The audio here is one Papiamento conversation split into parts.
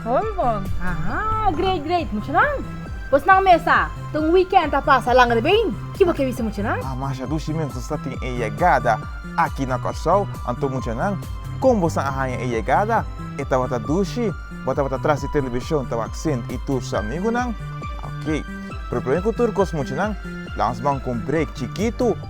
Bon bon. Aha, great great muchanan. Bo snan mesa ta un weekend ta pasa langa de been. Ki bo ke bisa muchanan? Ah, masha dushi mense sa tin e yegada aki na Kòrsou. Anto muchanan, kon bosa a haña e yegada? E tabata dushi? Bo tabata tras di telebishon ta wak Sint i tur su amigunan? Oké. Pero promé ku tur kos muchanan, laga nos ban ku un break chikitu.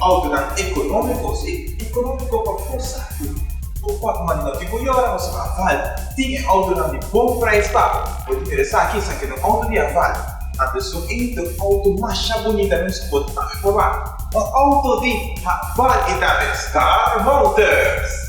Autoridad economico, si economico pa forsa aki bo por manda di bo yora nos aval tin e autonan di bon prijs pa bo tin mira esaki esaki no auto di aval anto esun ei ta auto masha bonita nos bo ta tambe por wak un auto di aval y tambe star motors.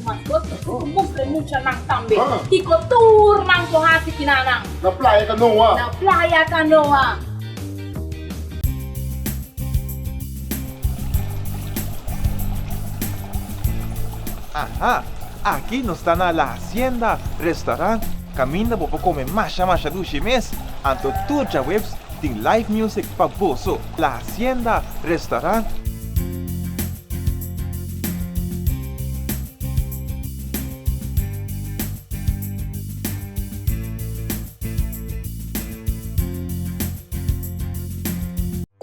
Mas goso es cu mustra e muchanan tambe kico tur nan por haci ki na nan. Na playa canoa. Na playa canoa. Aha! Aki nos ta na La Hacienda Restaurant, caminda bo por come masha masha dushi mes, anto tur djaweps tin live music pa boso. La Hacienda Restaurant.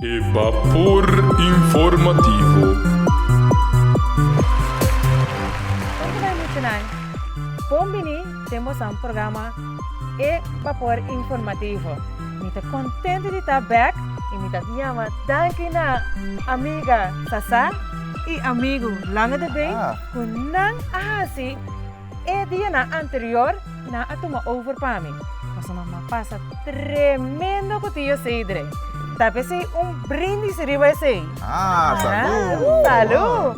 E Bapor Informativo. Oke bai michinan, bon bini den bo san programa E Bapor Informativo. Mi ta contento di ta bek y mi ta biaba danki na amiga Sasa. i amigu langa de bay ku nan a hasi e dianan anterior nan a tuma over pa mi. Paso nan a pasa tremendo ku tio Seidre. Ta pesey un brindis riba esey. Salú!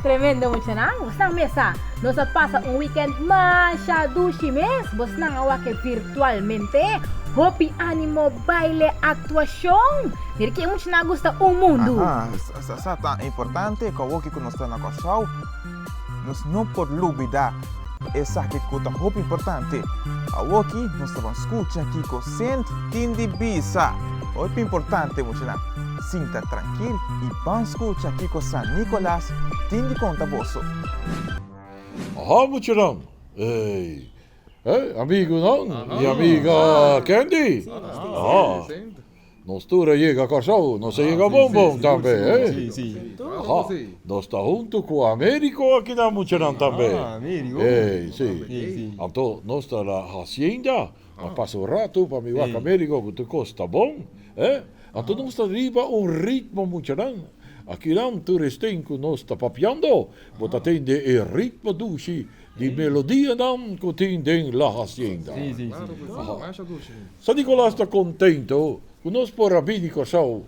Tremendo muchanan, bosnan mesa! Nos a pasa un weekend masha dushi mes, bosnan a wak e virtualmente. Hopi animo, baile, actuacion. Mira ki e muchanan a gusta un mundu. Aha, sa ta importante ku awoki ku nos ta na Kòrsou, nos no por lubidá esaki ku ta hopi importante. Awoki nos ta ban skucha kiko Sint tin di bisa. Hopi importante muchanan. Sinta trankil i ban skucha kiko San Nikolas tin di konta boso. Aha muchanan, ei e amigunan i amiga Candy. Aha. Nos tur a yega Kòrsou, nos a yega bon bon tambe, hè? Aha, nos ta huntu ku Amériko a keda muchanan tambe. Ei, si. Anto nos ta na hasienda, a pasa un ratu pa mi wak Amériko ku tur kos ta bon, hè? Anto nos ta riba un ritmo muchanan. Akinan tur e sten ku nos ta papiando, bo ta tende e ritmo dushi. Di melodianan ku tin den La Hacienda. San Nicolas ta kontento ku nos por a bin di Kòrsou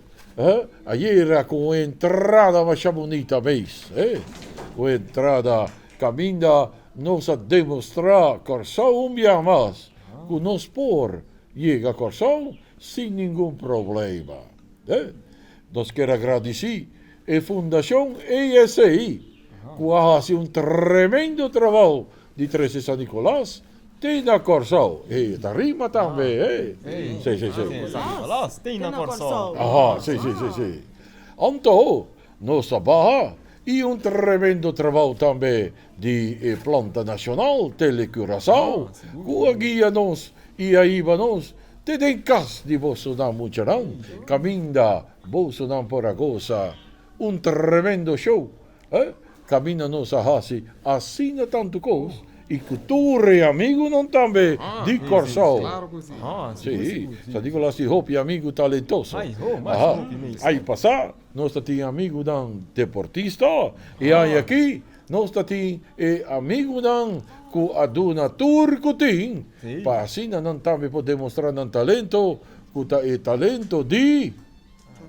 ayera ku un entrada masha bunita mes. Un entrada kaminda nos a demostrá Kòrsou un bia mas ku nos por yega Kòrsou sin ningun problema. Nos kier a gradisí e Fundashon ASA ku a hasi un tremendo trabou di trese San Nikolas te na Kòrsou. Hey, e ta rima tambe, hey. Sí, sí, sí. San Nikolas te na Kòrsou. Aha, sí, sí, sí, sí. Anto, nos ta baha i un tremendo trabou tambe Di e planta nacional Tele Curaçao cu a guia nos y a iba nos te den cas di bosonan muchanan caminda bosonan por a goza un tremendo show eh caminda nos a haci asina tanto cos y cu tur e amigunan tambe di Corsow si ta di cu nos tin hopi amigu talentoso aha ay pasa nos ta tin amigunan deportista y ay aki Nos ta tin e amigunan cu a duna tur cu tin pa asina nan tambe por demostra nan talento, cu ta e talento di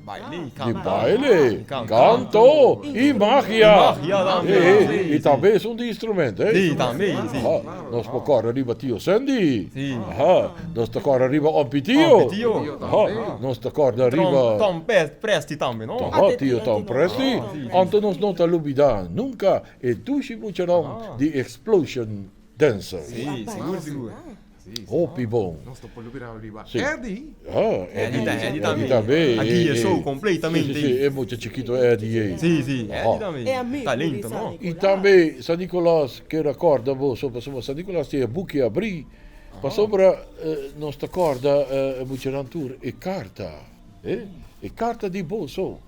baile, canto y magia. Y tambe esun di instrumento. Nos por kòrè riba tio Sendi. Nos ta kòrè riba Ompi Tio. Nos ta kòrda riba. Tom Presti tambe, no? Tòhò tio Tom Presti. Anto nos no ta lubidá nunka e dushi muchanan di Explosion Dancers. Sí, sigur, sigur. Hopi bon. Nos ta por lubidá riba Eddy. Eddy ta, Eddy tambe. Eddy tambe. A guia e show kompletamente. Sí, sí, sí. E mucha chikito Eddy ei. Sí, sí. Eddy tambe. Talento, no? I tambe San Nicolas. Ke recorda boso pasobra San Nicolas tin e buki abri pasobra nos ta corda e muchanan tur e carta eh e carta di boso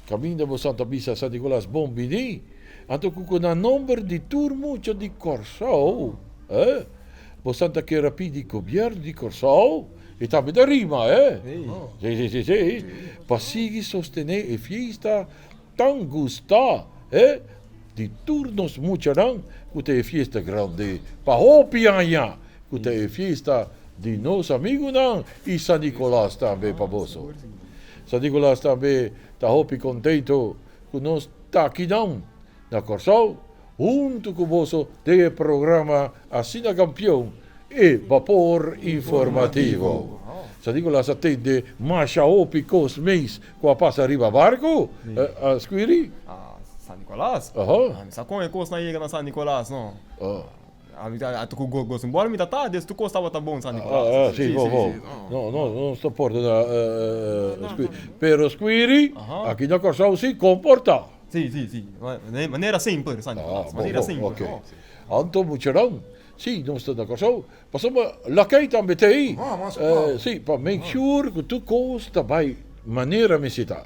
caminda boso ta bisa San Nicolas bon bini anto cu cu na nomber di tur mucha di Corsou eh boso ta kera pidi gobierno di Corsou e tambe ta rima eh si si si si pa sigui sostene e fiesta Ta un gustá, he, di tur nos muchanan ku ta e fiesta grandi. Pa hopi aña ku ta e fiesta di nos amigunan i San Nikolas tambe pa boso. San Nikolas tambe ta hopi kontentu ku nos ta akinan na Kòrsou. Huntu cu boso den e programa Asina Campeon, e Bapor Informativo. Sa di cu lo hasta tende masha hopi cos meis cu a pasa riba barco, eh, Scuiri? San Nicolas? Aho. Ami sa con e cosnan yega na San Nicolas, no. Oh. Ata ku goso un bòl mi ta ta, des tur kos tabata bon San Nikolas. Ah, si, bo, bo. No, no, no nos ta porta na skuiri. Pero skuiri, aki na Kòrsou si, komportá. Si, si, si. Manera semper, San Nikolas, manera semper. Ah, bo, bo. Anto muchanan, si nos ta na Kòrsou, pasobra lakei tambe ta ei. Si, pa make sure ku tur kos ta bai manera mester ta.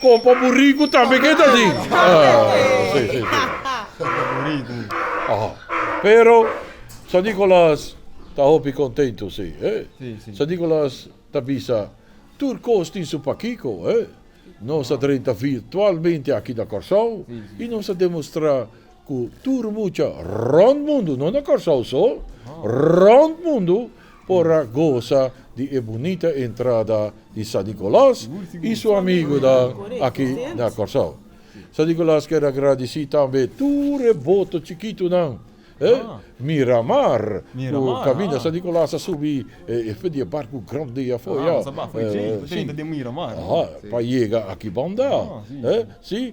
Con pa buricu tambe ke ta di. Pero San Nicolas ta hopi contento si. San Nicolas ta bisa tur cos tin su pakico. Nos ta drenta virtualmente aki na Corsou y nos ta demostra Ku tur mucha rònt mundu, no na Kòrsou so, rònt mundu por a gosa di e bunita entrada di San Nikolàs i su amigunan aki na Kòrsou. San Nikolàs ker agradisí tambe tur e boto chikitunan, Miramar, ku kaminda San Nikolàs a subi espe di e barku grandi afó ya, si, pa yega aki banda. Si.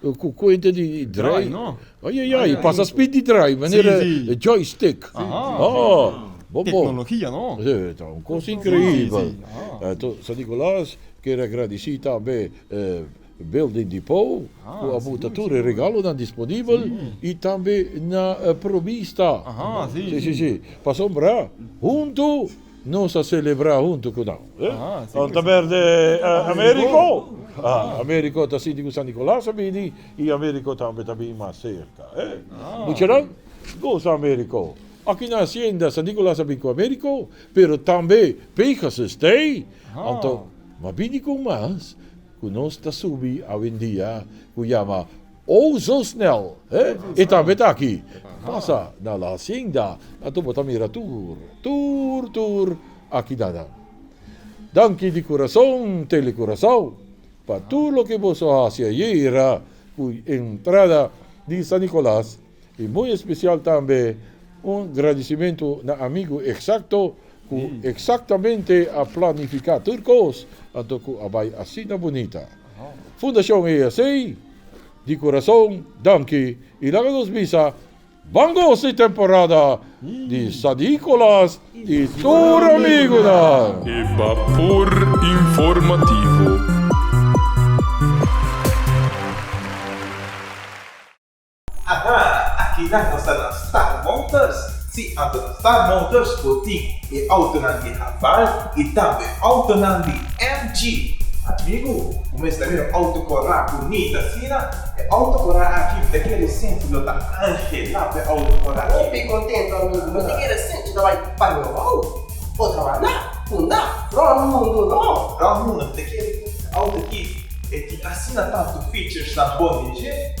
Ku kuenta di drai. Ayayay, e pasa spit di drai, manera e joystick. Bon bon. Teknologia, no? Si, ta un kos inkreibel. Anto, San Nikolas ker agradisí tambe e Building Depot ku a buta tur e regalonan disponibel i tambe na e provista. Si, si, si. Pasobra huntu. Nos a selebrá huntu ku nan. Nan ta berde Américo. Américo ta sinti ku San Nicolas a bini i Américo tambe ta bin mas serka. Muchanan, gosa Américo. Aki na hasienda San Nicolas a bin ku Américo, pero tambe Pegasus t'ei. Anto, m'a bini kon mas ku nos ta subi awendia ku yama. Oh, zo snel, he? E tambe ta aki. Pasa na la hacienda, anto bo ta mira tur, tur, tur aki nanan. Danki di curason, Telecuracao, pa tur loke boso haci ayera cu entrada di San Nicolas. I muy especial tambe un gradicimento na amigo exacto cu exactamente a planifica tur cos anto cu a bay asina bunita. Fundacion ESA, di corazon danki i laga nos bisa Bon gozo di temporada di Sadicolas i tur amigonan! E Bapor Informativo. Aha, aki nan nos ta na Star Motors! Sí, anto na Star Motors bo tin e autonan di Haval i tambe autonan di MG. Amigu, bo mester a mira un auto corá bunit asina? E auto corá aki mi ta kere e sentu lo ta angelá pa e auto corá aki. Hopi contento, amigu, mi ta kere e sentu ta bai pa mi rou, o ta wandá, kundá, rond mundu, no. Rond mundu, mi ta kere e auto aki, e tin asina tantu featuresnan bon dje.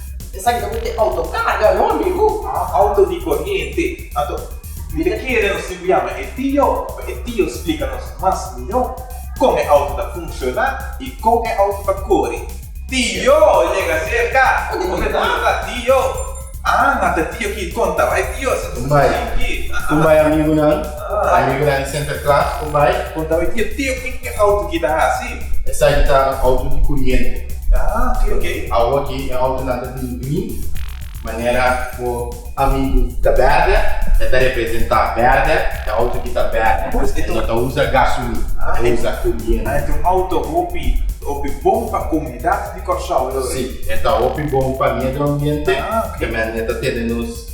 Esaki ta cu te autocarga no amigo. Auto di corriente. Anto, mi ta kere nos tin cu yama e tio pa e tio splica nos mas miho con e auto ta funciona y con e auto ta cori. Tio yega cerca. Bo me ta habla tio. Aa, ta tio ki contaba e tionan. Cu mai, cu mai amigonan. Ku año i bira e Santa Klas ku bai. Konta bo e tiotio ku tin e outo ki ta hasi. Esaki ta un outo di kuriente. Aa ok ok. Awo ki e outonan ta tin green manera bo amigu ta berde e ta representa berde e outo ki ta berde e no ta usa gasolin e usa kuriente. Aa e ta un outo hopi hopi bon pa komunidat di Kòrsou. Si e ta hopi bon pa midio ambiente. Aa ok. Tambe e ta tene nos.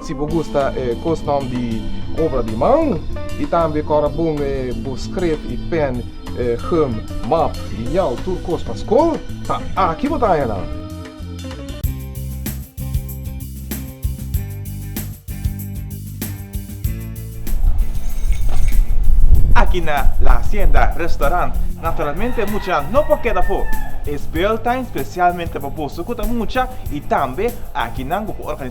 Si bo gusta e kustom di obra di man i tambe kòrda bon e bo skref i pèn, gum, map, liñal, tur kos pa skol, ta aki bo ta haña nan! Aki na La Hacienda Restaurant naturalmente mucha no por keda afó. E speeltuin spesialmente pa boso ku ta mucha i tambe aki nan bo por organisa.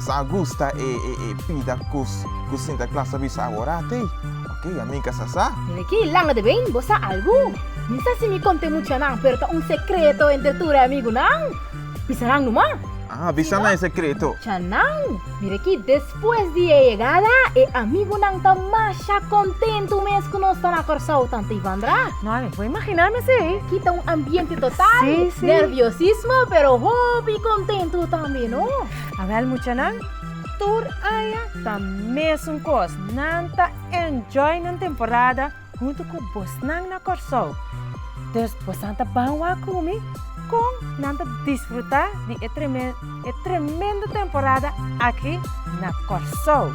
Sa a gusta e pida cus cu Sinter Klaas a bisa awora tey? Ok, a mi ca sa sa. Den aki, langa de bey, bo sa algu? Mi sa si mi conte muchanan, pero ta un secreto entre tur e amigunan. Bisa nan numa. Aha, bisa nan e secreto. Muchanan, mira aki, despues di e yegada, e amigunan ta masha contento mes cu nos ta na Corsow, tanta Ivandra. Bo imaginá mes ei? Kita un ambiente total di sí, sí. nerviosismo, pero hopi contentu tambe, no? Awel muchanan, tur aña ta mesun cos. Nan ta enjoy nan temporada hunto cu bosnan na Corsou. Dus bosan ta ban wak cu mi con nan ta disfruta di e tremendo temporada aki na Corsou.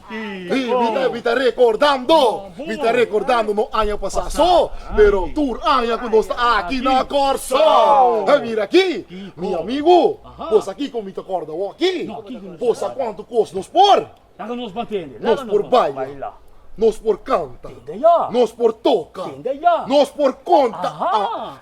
Y mi ta recordando, mi ta recordando nos aña pasa so, pero tur aña cu nos ta aki na Corso. Hey, mira aki, mi amigo, bo sa kico mi ta corda bo aki? Bo sa cuanto cos nos por? Nos por baila, nos por canta, nos por toca, nos por conta.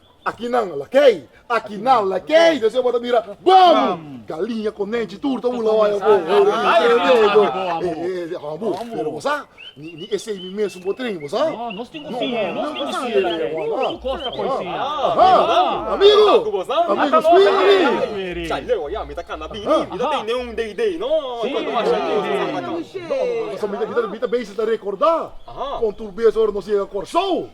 Aki nan la kei, aki nan la kei, den sey bo ta bira Bomu! Galiña, konenchi, tur ta bula waya bo, hobu, pero bo sa, ni esei mi mesun bo trin, bo sa. Amigu, amigu scuiri! Mi ta bes ta recorda, con tur bes ora nos yega Corsou.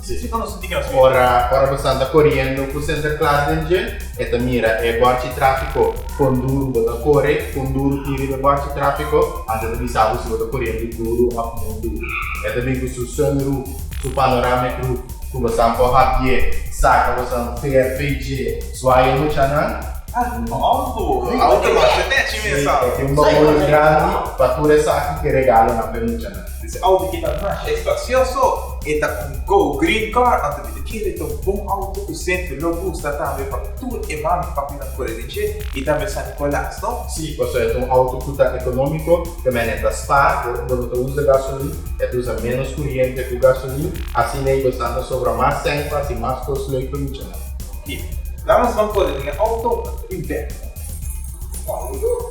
Si si konosi tin e foto. Ora ora bo santa koriendo ku senter klas den dje e ta mira e bòrchi trafiko kon duru bo ta kore kon duru tin riba e bòrchi trafiko anto e ta bisa bo si bo ta koriendo duru òf no duru e ta bin ku su sun roof su panoramic roof ku bo san por habié saka bo san per fei dje suaye muchanan si e tin un baul grandi pa tur esaki ki e regalonan p'e muchanan. Di se auto ki ta masha espacioso, e ta un go green car, anto di kila e ta un bon auto cu sempri lo gusta tambe pa tur e mami y papinan cora den dje y tambe San Nicolas, no? Sí, pasobra e ta un auto cu ta economico, caminda e ta spa, bo no ta usa gasolin, e ta usa menos curiente cu gasolin, asina y bo sa ta sobra mas centas y mas cos loe pa yucha nan. Oki, la nos ban cora den e auto y bek. Wow!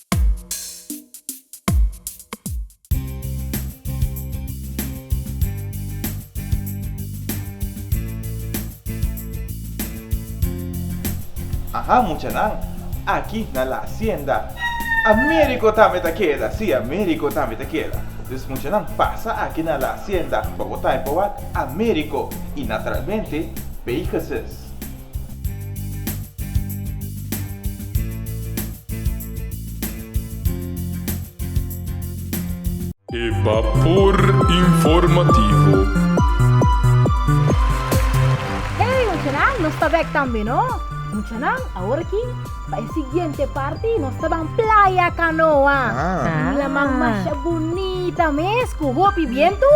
Aha muchanan, aki na la asienda Américo tambe ta keda, si Américo tambe ta keda. Dus muchanan pasa aki na la asienda pa bo ta e pa wak Américo y natralmente Pegasus. E Bapor Informativo. Hey muchanan, nos ta bek tambe no. Muchanan, awor aki, pa e siguiente parti nos ta ban playa canoa. Un laman masha bunita mes cu hopi bientu.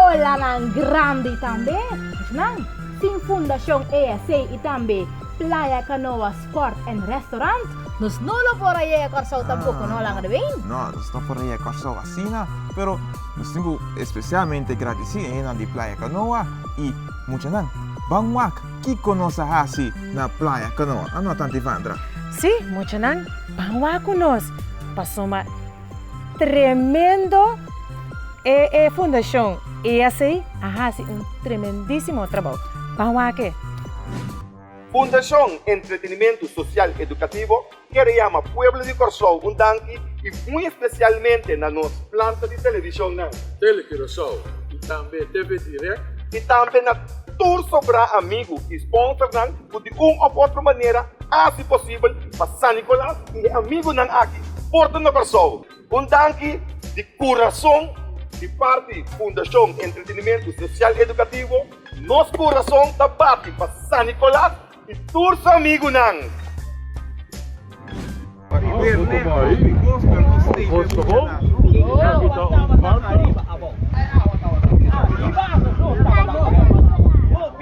Olanan grandi tambe. Muchanan. Tin Fundacion ESA y tambe Playa Canoa Sport and Restaurant. Nos no lo por a yega Corsou tampoco no laga de been. No nos no por a yega Corsou asina pero nos tin cu especialmente gradici e henan di Playa Canoa y muchanan ban wak kico nos a haci na Playa Canoa a no Tanti Vandra. Si muchanan ban wak cu nos pasobra Tremendo e e fundacion e asey a haci un tremendisimo trabou. Ban wake. Fundacion Entretenimento Social Educativo kere yama pueblo di Corsou un danki y muy especialmente na nos planta di television nan, Tele Curacao y tambe TV Direct, y tambe na tur sobra amigo y sponsor nan cu di un of otro manera haci posibel pa San Nicolas E amigunan aki por ta na Kòrsou. Un danki di kurason di parti Fundashon Entretenimentu Sosial Edukativo. Nos kurason ta bati pa San Nikolas i tur su amigunan.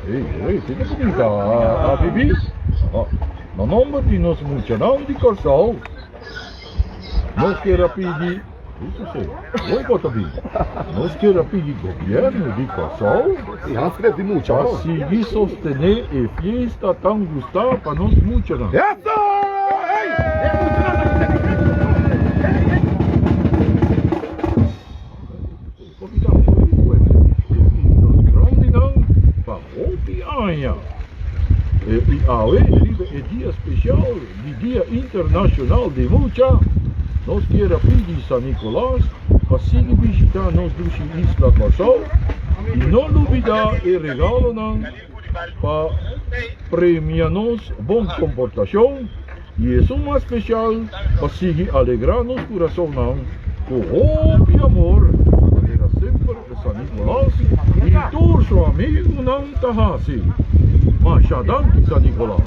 Hey, hey, kiko su bin ta a bibi? Aha, na nomber di nos muchanan di Kòrsou, nos ker a pidi, hey, sosé, wei bo ta bin? Nos ker a pidi gobièrnu di Kòrsou pa sigui sostené e fiesta tan gustá pa nos muchanan. Comida for di pueblo tin nos grandinan pa hopi aña y awe riba e dia special di Dia Internacional di Mucha nos kier a pidi San Nicolas pa sigui bishita nos dushi isla Kòrsou y no lubida e regalonan pa premia nos bon komportashon i esun mas spesial pa sigui alegrá nos kurasonnan ku hopi amor, manera semper e San Nikolas i tur su amigunan ta hasi. Masha danki San Nikolas!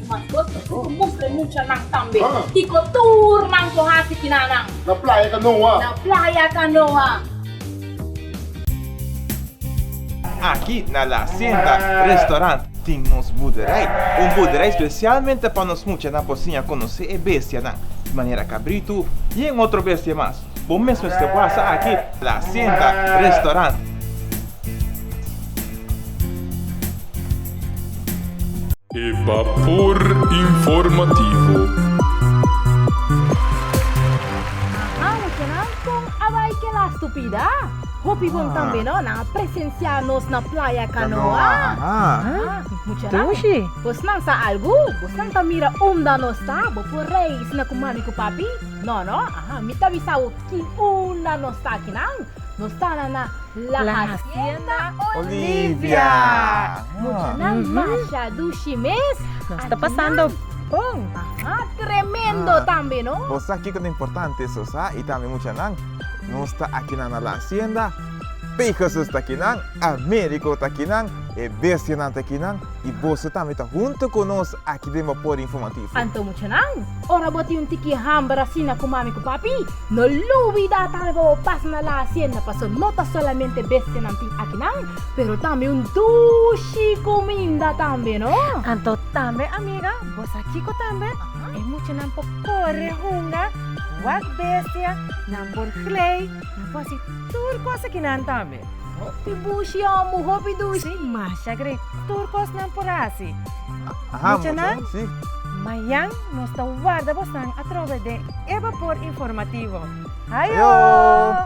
Mas goso si cu mustra e muchanan tambe. Kico tur nan con haci kina nan. Na playa canoa. Na playa canoa. Aki na La Hacienda Restaurant tin nos boerderij. Un boerderij specialmente pa nos muchanan por siña conoce e bestianan. Di manera cabrito y e otro bestia mas. Bo mesmo este wasa aki na La Hacienda Restaurant. E Bapor Informativo. Aha, muchanan, kon a bai kel astu pida? Hopi bon tambe no, nan a presensiá nos na Playa Canoa. Aha, muchanan, bosnan sa algu? Bosnan ta mira unda nos ta? Bo por reisnan ku mami ku papi? No, no? Aha, mi ta bisa bo kin unda nos ta akinan. Nos ta na na La Hacienda Olivia. Muchanan masha dushi mes. Nos ta pasando bon. Aha, tremendo tambe no. Bo sa kiko ta importante so sa y tambe muchanan nos ta akinan na La Hacienda, Pe Jesus ta akinan, Americo ta akinan, e bestianan ta akinan y boso tambe ta hunto cu nos. Aki den bo poda informativo. Anto muchanan, ora bo tin un tiki hamber asina ku mami ku papi, no lubidá tal bo bo pasa na la hasienda paso no ta solamente bestianan tin akinan, pero tambe un dushi kuminda tambe no. Anto tambe amiga, bo sa kiko tambe? E muchanan por kore hunga, wak bestia, nan por glei, nan por hasi tur kos akinan tambe. Hopi bushi omu, hopi dushi. Sí, masha gre. Tur kosnan por hasi. Muchanan, mayan nos ta warda bosnan atrobe den e Bapor Informativo. Hayo!